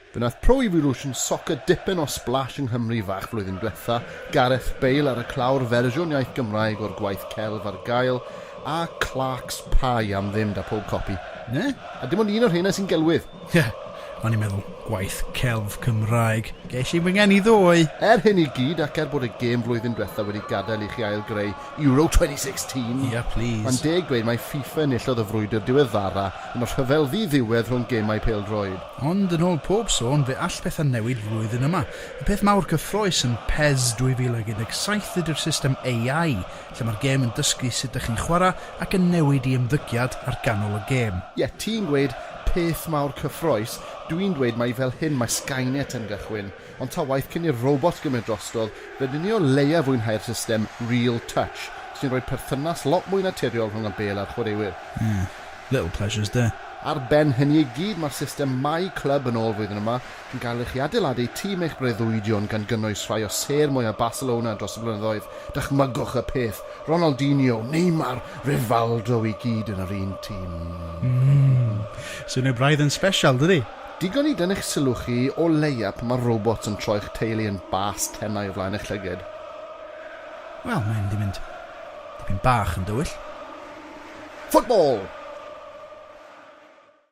Fe wnaeth Pro Evolution Soccer dipyn o splash yng Nghymru fach flwyddyn dwetha, Gareth Bale ar y clawr, fersiwn iaith Gymraeg o'r gwaith celf ar gael, a Clarks Pie am ddim 'da pob copi. Na, a dim ond un o'r rheina sy'n gelwydd. Ie, o'n i'n meddwl gwaith celf Cymraeg. Ges i fy ngeni ddoe! Er hyn i gyd, ac er bod y gêm flwyddyn dwetha wedi gadael i chi ail-greu Euro 2016, Ia, plis. mae'n deg dweud mai FIFA enillodd y frwydr diweddara yn y rhyfel ddi-ddiwedd rhwng gemau pêl-droed. Ond yn ôl pob sôn, fe all pethau newid flwyddyn yma. Y peth mawr cyffrous yn PES 2017 ydy'r system AI, lle mae'r gêm yn dysgu sut dych chi'n chwarae ac yn newid i ymddygiad ar ganol y gêm. Ie, ti'n gweud peth mawr cyffrous, dwi'n dweud mai fel hyn mae Skynet yn gychwyn, ond ta waeth cyn i'r robot gymryd drostodd, rydyn ni o leia fwynhau'r system Real Touch, sy'n rhoi perthynas lot mwy naturiol rhwng y bêl a'r chwaraewyr. Ie, little pleasures de. Ar ben hynny i gyd, mae'r system My Club yn ôl flwyddyn yma, Fe gallech chi adeiladu tîm eich breuddwydion gan gynnwys rhai o sêr mwyaf Barcelona dros y blynyddoedd, dychmygwch y peth, Ronaldinho, Neymar, Rivaldo i gyd yn yr un tîm! Mmm! Swnio braidd yn sbesial, dydi? Digon i dynnu'ch sylw chi o leia pan mae'r robots yn troi'ch teulu yn bast tenau o flaen eich llyged. Wel, mae'n mynd i fynd dipyn bach yn dywyll. Football!